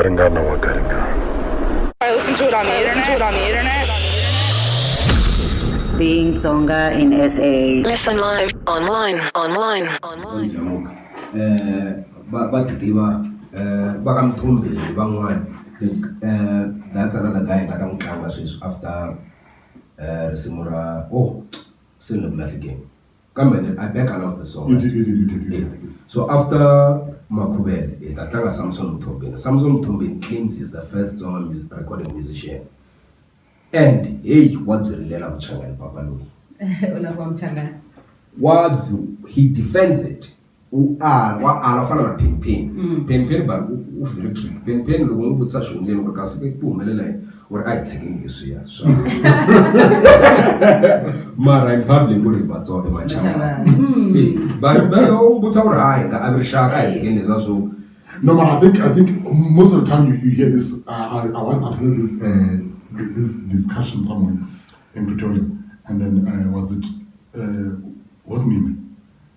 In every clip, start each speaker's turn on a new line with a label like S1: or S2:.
S1: Garingana wa Garingana. I listen to it on the internet. Listen
S2: to it on the
S3: internet. Being Tsonga in SA.
S4: Listen live, online, online, online. Eh,
S5: ba ba ti tiva eh ba ka mthombi van'wana eh that's another guy nga ta n'wi tlanga sweswi after eh risimu ra oh se ni le ku lahlekeni kambe ni I back announce the song
S1: so after
S5: Makhuvele hi ta tlanga Samson Mthombeni Samson Mthombeni claims is the first song music recording musician and heyi wa byi rilela vuchangani papa loyi wa he defends it u ala wa ala u fana na penny penny mm. penny penny but u very trick penny penny loko n'wi vutisa xihundleni ku ri kasi ku humelela yini u ri a hi tshekeni leswiya swa mara in public ku ri hi vatsonga emachamba hmm. eh, bayo u vutisa ku ri a hi nga avi rixaka a hi tshekeni leswiya swo No, but I
S1: think I think most of the time you, you hear this. Uh, I, I once attended this uh, this discussion somewhere in Pretoria, and then uh, was it uh, wasn't him?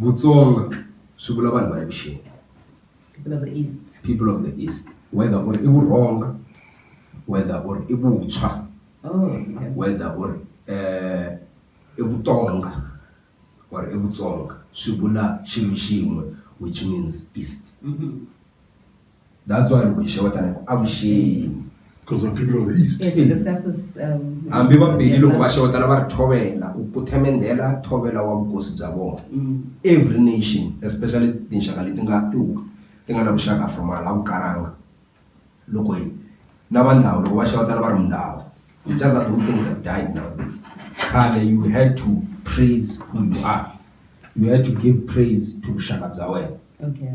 S5: Vutsonga swi vula vanhu va le vuxeni people of the east people of the east whether ku ri i vurhonga whether ku ri i vuntshwa oh, whether ku ri um i vutonga or i vutsonga swi vula xilo xin'we which means east mm -hmm. That's why loko hi xewetana hi ku avuxeni. Because we're people
S1: of the East. Yes, we discussed this.
S6: Um, Hambi va
S5: Pedi loko va xewetana va ri thovela ku ku themendela thovela wa vukosi bya vona. Mm. Every nation especially tinxaka leti nga ti ti nga na vuxaka from hala vukaranga loko hi na va ndhawu loko va xewetana va ri mundhawu. It's just that those things have died nowadays. Khale you had to praise who you are. You had to give praise to vuxaka bya wena. Okay.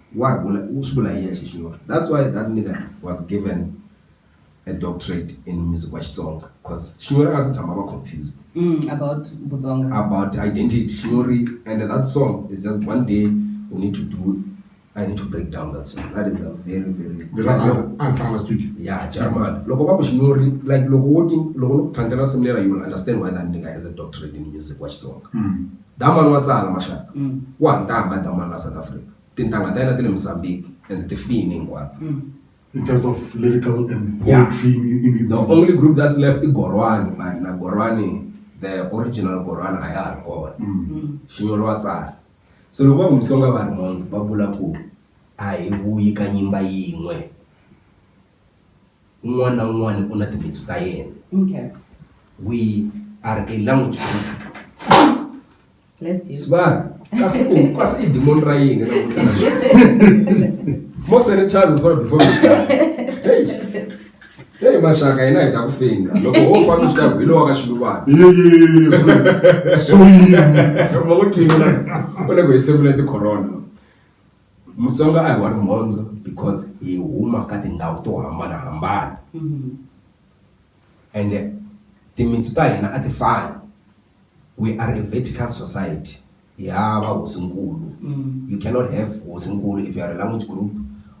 S5: Wa ri vula u swi vula hi yexe Xinyori. That's why that nigga was given a doctorate in music wa Xitsonga cause Xinyori a nga se tshama a va confused about
S6: Vutsonga, about identity.
S5: Xinyori and that song is just one day we need to do, I need to break down that song. That is a very very Ndzi rhandza loko a ni fana na
S1: studio. ya Jarman.
S5: Loko va ku Xinyori like loko wo ti loko no ku tlhandlela nsimu lera you will understand why that nigga has a doctorate in music wa Xitsonga. Damani wa tsala maxaka ku wa ntanga damani la South Africa tintanga ta yena ti le Mozambique and ti fini hinkwato. In terms of
S1: lyrical and poetry in his music. The only group that's left i
S5: Gorwani mani na Gorwani the original Gorwani a ya ha ri kona Xinyori wa tsala so loko va ku Mutsonga va ri mhondzo va vula ku a hi vuyi ka nyimba yin'we. un'wana na un'wana u na timitsu ta yena
S6: okay we
S5: are a language
S6: sibari kasi
S5: u kasi i demon ra yini more sanitizers for before we Hey mashaka yena hi ta ku finga loko ho famba swi ta ku hi lowa ka xiluvana so yini ma ku tlini u le ku hi tshembile ti-corona Mutsonga a hi wa rimhondzo because hi huma ka tindhawu to hambanahambana ende timintsu ta hina a ti fani we are a vertical society hi hava hosinkulu you cannot have hosinkulu if you are a language group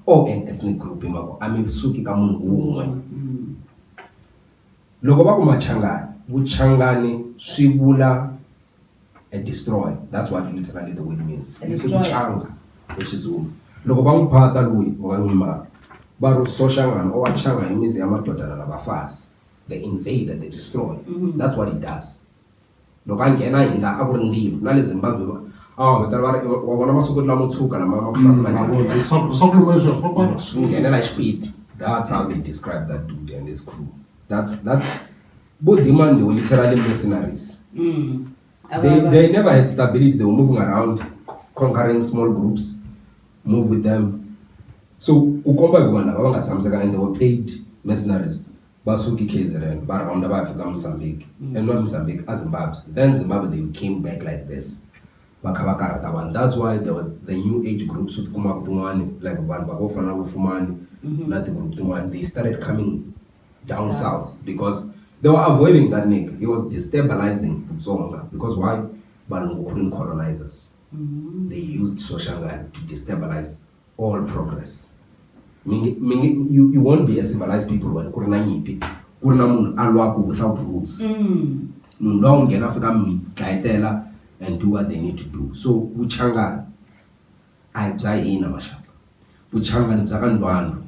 S5: or an ethnic group hi mhaka ku a mi suki ka munhu wun'we loko va ku Machangani Vuchangani swi vula. a destroyer that's what literally the word means A i ku destroyer. canga hi xizulu loko va n'wi phata loyi va nga n'wi maka va ri soxangana o wa changa hi mizi ya madodana na vafazi the invader the destroyer Mhm. that's what he does loko a nghena hi la a ku ri ndzilo na le zimbabwe va- a wa vitana va ri wa vona masiku lamo tshuka lama ma ku hlasela Mm, njhani?" mavona. Swa- swa ku luma leswi, papa. Swi nghenela hi xipidi that's how they describe that dude and his crew that's that's vo demand the literally mercenaries mm. they, they never had stability they were moving around conquering small groups move with them so ku komba hi ku vanhu lava va nga tshamiseka and they were paid mercenaries va suki kzrn va rhonda va ya fika mozambique mm. and not mozambique a zimbabwe then zimbabwe they came back like this va kha va karhata vanhu that's why the, the new age groups u tikumaka tin'wani like vanhu va vo fana na vufumani mm-hmm. na tigroup tin'wani they started coming down yeah. south because they were avoiding that nigga he was destabilizing Tsonga because why balungu couldn't colonize us mm -hmm. they used soshangani to destabilize all progress mingi, mingi, you, you won't be a civilized people when kuri na nyipi kuri na munhu a lwaku without rules mm. munhu mm. lowa ku nghena fika mi dlayetela and do what they need to do so vuchangani A hi bya hina maxaka vuchangani bya ka Ndwandwe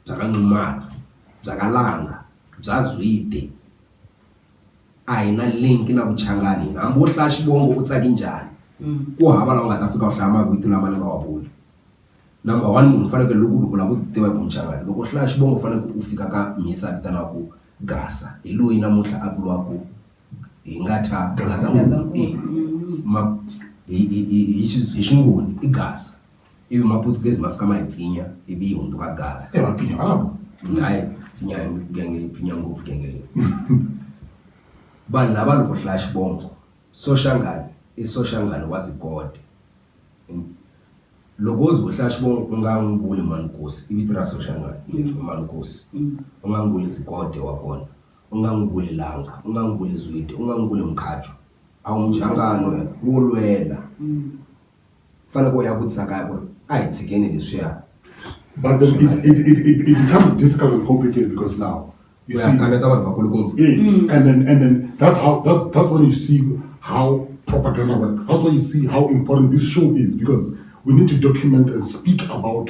S5: bya ka Nxumalo bya ka Langa bya Zwide a hi na link na vuchangani hina hambi wo hlaya xivongo u tsake njhani ku hava laha u nga ta fika u hlaya mavito lama ni nga wa vula number one munhu u fanekele loko u lava ku tiva hi ku muchangani loko u hlaya xivongo u fanekele u fika ka mhisi a vitanaku Gasa hi loyi namuntlha a vuriwaku. hi nga ta ma hi hi hi hi hi xingoni i gasa ivi maputugezi ma fika ma hi pfinya ivi yi hundzuka gasi
S1: se va pfinya
S5: vanhu hayi pfinya genge yi pfinya ngopfu genge leyi vanhu lava loko hlaya xivongo soshangane i soshangane wa zikode loko wo ze u hlaya xivongo u nga n'wi vuli mhani nkosi i vito ra soshangane mhani nkosi u nga n'wi vuli zikode wa kona. U nga n'wi vuli langa, u nga n'wi vuli zwide, u nga n'wi vuli mukhajo. A wu nhlangano wo lwela. U fanekele u ya vutisa kaya ku ri, a hi tshikeni leswiya. But
S1: it becomes difficult and complicated because now, you see, yes, and then, and then that's how, that's, that's when you see how propaganda works. That's why you see how important this show is because we need to document and speak about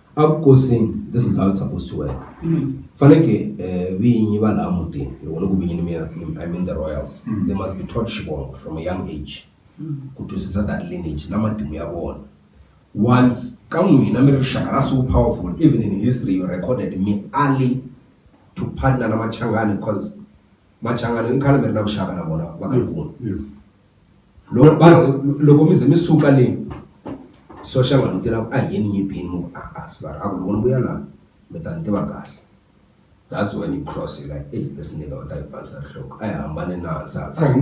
S5: Avukosi this is how it's supposed to work faneke vinyi va laha mutini loko ni ku vinyi ni mean I mean the royals they must be taught xivongo from a young age ku twisisa that lineage na matimu ya vona once ka n'wina mi ri rixaka ra so powerful even in history you recorded mi ale to partner na Machangani coz. Machangani mi khale mi ri na vuxaka na vona vakhegula loko
S1: va ze loko
S5: mi ze mi suka le Soshangane u tela ku a hi yeni Nyimpi mu ku a-a Sibari a ku loko ni vuya la mi ta ni tiva kahle that's when you cross you like ey this nigga u ta hi pfanisa rihloko a hi hambane na hansi hansi hayi ku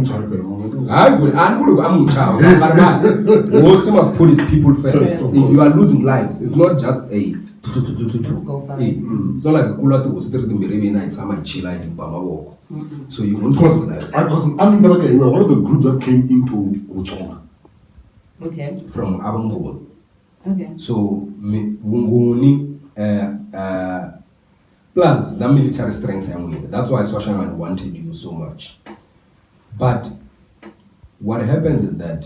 S5: ri a ni vuli ku a mi n'wi chava mara mani hosi must put his people first you are losing lives it's not just a so like ku lwa tihosi ti ri timbirhi mina hi tshama hi chila hi ba mavoko so you won't Because trust us I because
S1: I mean like you were one of the groups that came into Botswana Okay.
S6: from abangoni
S5: Okay. so
S6: mi-
S5: vungoni uh, uh, plus la military strength ya n'wina that's why swashangani wanted you so much but what happens is that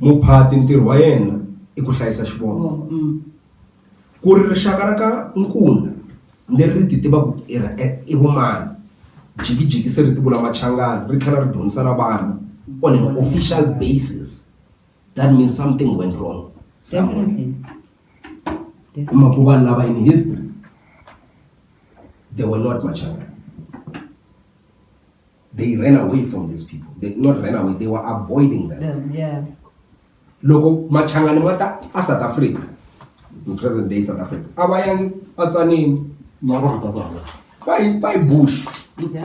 S5: Muphati ntirho wa yena i ku hlayisa xivongo. Ku ri rixaka ra ka Nkuna leri ri ti tivaka ku i ra i vumani, jikijiki se ri ti vula Machangana ri tlhela ri dyondzisa na vanhu on an official basis that means something went wrong somewhere.
S6: Hi mhaka ku vanhu lava
S5: in history they were not Machangana. they ran away from these people they not ran away they were avoiding them, them yeah.
S6: loko
S5: machangani ma ta a south africa in present day south africa a va yangi va tsanini
S1: va yi bush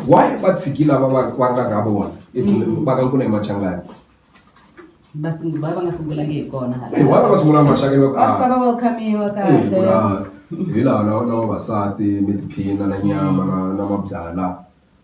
S5: why va
S6: tshiki
S5: lava va va nga ka vona if mm. va ka nkuna hi machangani va nga
S6: sungulanga hi kona hi why va nga sungulanga machangani va
S5: ah. faka
S6: va khamiwa kahle hi laha
S5: na vavasati mi tiphina na nyama na na mabyala